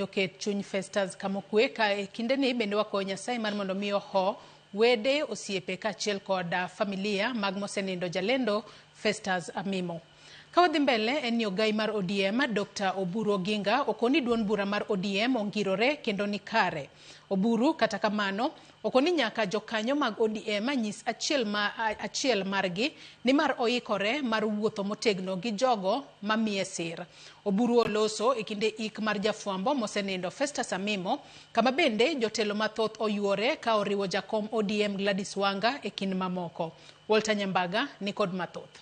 Oket chuny Festus kamokue ka e kindeni bende wakwayo Nyasaye mar mondo mi oho wede, osiepe kaachiel kod ah, familia mag mosenindo jalendo Festus Amimo. Ka wadhi mbele en ni ogai mar ODM Dr. Oburu Oginga okoni duond bura mar ODM ongirore kendo ni kare. Oburu kata kamano Oko ni nyaka jokanyo mag ODM anyis achiel ma achiel margi nimar oikore mar wuotho motegno gi jogo mamiye sir. Oburu oloso e kinde ik mar jafwambo mosenindo Festus Amimo kama bende jotelo mathoth oyuore ka oriwo jakom ODM Gladys Wanga e kind mamoko. Walter Nyambaga nikod mathoth.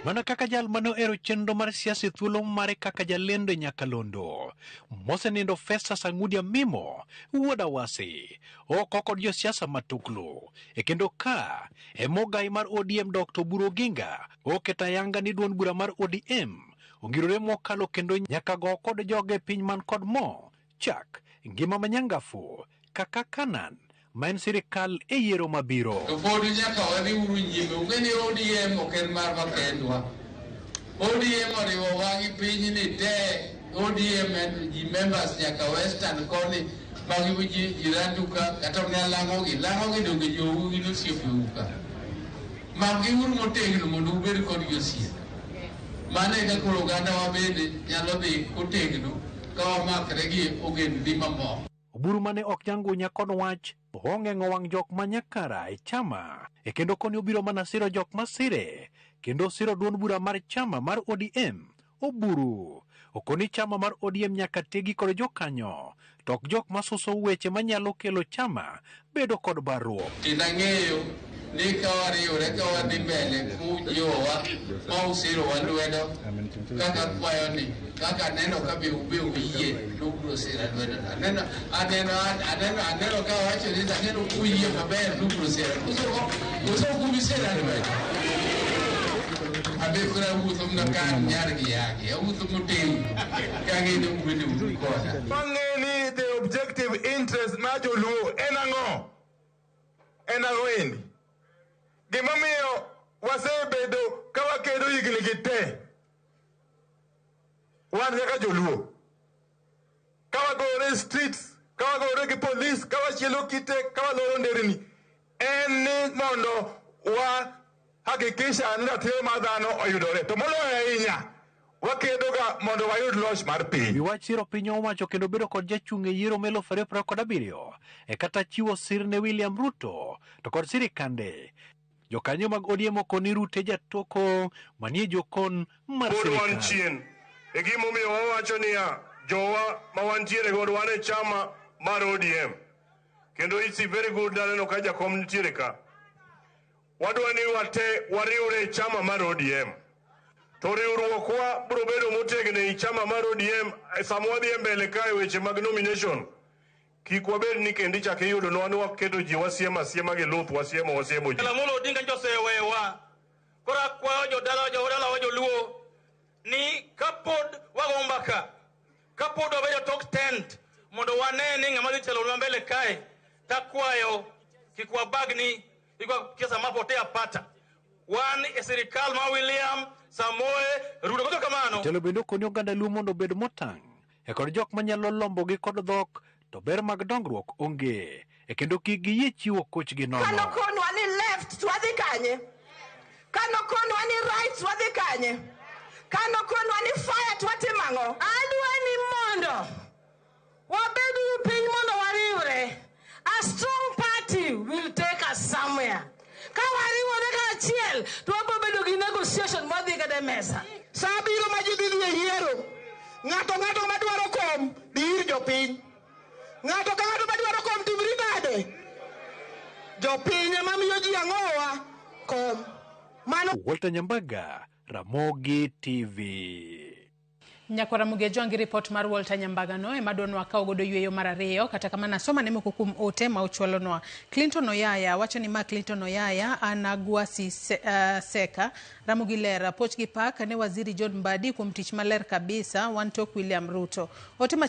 Mana kaka jal ma nohero chenro mar siasa e thuolo mare kaka jalendo e Nyakalondo, mosenindo Festus Ang'udi Amimo, wuod Awasi, oko kod josiasa matuklu. E kendo ka e mogayi mar ODM Dr. Oburu Oginga oketo ayanga ni duond bura mar ODM ongirore mokalo kendo nyaka go kod joge piny man kod mo chak ngima manyangafu kaka Kanan ma en sirikal e yiero mabiro. To pod nyaka wadhi uru nyime, ung'e ni ODM ok en marwa kendwa. ODM oriwo wang'i pinyni te, ODM en ji members nyaka western koni, magi ji jirandu ka, kata mna lang'ogi, lang'ogi donge jowu gin osiepeu ka. Makgi uru motegno mondo ubed kodgi osiepe. Mano e kaka oganda wa bende nyalo dhi kotegno Ka wamakre gi ogendni mamoko. Oburu mane ok nyangunya kod wach ong'eng'o wang' jok ma nyakara e chama e kendo koni obiro mana siro jok ma sire kendo osiro duond bura mar chama mar ODM. Oburu okoni chama mar ODM nyaka tegi kod jokanyo to ok jok ma suso weche manyalo kelo chama bedo kod barruok. Kendo ang'eyo ni ka wariwore ka wadhi mbele kujiwowa ma usirowa lwedo kaka kwayo ni kaka aneno ka be ube uyie to ubiro sira lwedo aneno aneno aneno aneno ka wacho ni aneno kuyie maber to ubiro sira usoko usoko kubi sira lwedo abekora wuotho mna kan nyar gi yagi awuotho motegno Wang'e ni the objective interest ma joluo en ang'o? En ang'o endi? Gimomiyo wasebedo ka wakedo higni gi te wan kaka joluo ka wagore streets ka wagore gi polis ka wachielo kite ka waloro nderni en ni mondo wa hakikisha ni ratiro mar dhano oyudore to moloyo ahinya wakedoga mondo wayud loch mar piny. Iwach siro piny owacho kendo bedo kod jachung' e yiero melo fere pra kod abiriyo e kata chiwo sir ne William Ruto to kod sirikande. Jokanyo mag ODM okoni Rute jatoko manie jokon mar sirikal. Pod wan chien. E gima omiyo wawacho niya, jowa ma wantiere godo wan e chama mar ODM. Kendo it's very good naneno ka jakom nitiere ka. Wadwa ni wate wariwre e chama mar ODM. To riwruokwa biro bedo motegno e chama mar ODM e sama wadhi e mbele kae weche mag nomination. Kik wabed ni kendo ichak iyudo nwa ni waketo ji wasiema asiema gi luth wasiemo wasiemo ji. Lamolo Odinga nyocha osewewa. Koro akwayo jodala jodalawa joluo ni kapod wago mbaka Kapod wabedo tok tent mondo wane ni ng'ama dhi telonwa mbele kae, takwayo kik wabagni ikwa kesa mapotea pata. Wan e sirikal ma William Samoe Ruto. Koto kamano. Jatelo bende okoni oganda Luo mondo obed motang' e kod jok manyalo lombogi kod dhok to ber mag dongruok onge, e kendo kik giyie chiwo kochgi nono. Kano konwa ni left to wadhi kanye? Kano konwa ni right to wadhi kanye? Kano konwa ni fire to watimo ang'o? Adwa ni mondo wabed gi piny mondo wariwre. A strong party will take us somewhere. Ka wariwore kaachiel to wabiro bedo gi negotiation ma dhi kata e mesa. Sa biro ma ji dhi dhi e yiero. Ng'ato ng'ato ma dwaro kom dhi ir jopiny. Ng'ato ka ng'ato ma dwaro kom timri nade? Jopiny ema miyo ji ang'owa kom. Mano Walter Nyambaga, Ramogi TV. Nyako Ramogi Ajwang' ripot mar Walter Nyambagano ema dwano akaw godo yweyo mar ariyo kata kamano asoma ne moko kuom ote ma ochwalonwa. Clinton Oyaya wacho ni ma Clinton Oyaya an Agwasi se, uh, Seka Ramogi Ler poch gi pak ne Waziri John Mbadi kuom tich maler kabisa wan tok William Ruto. Ote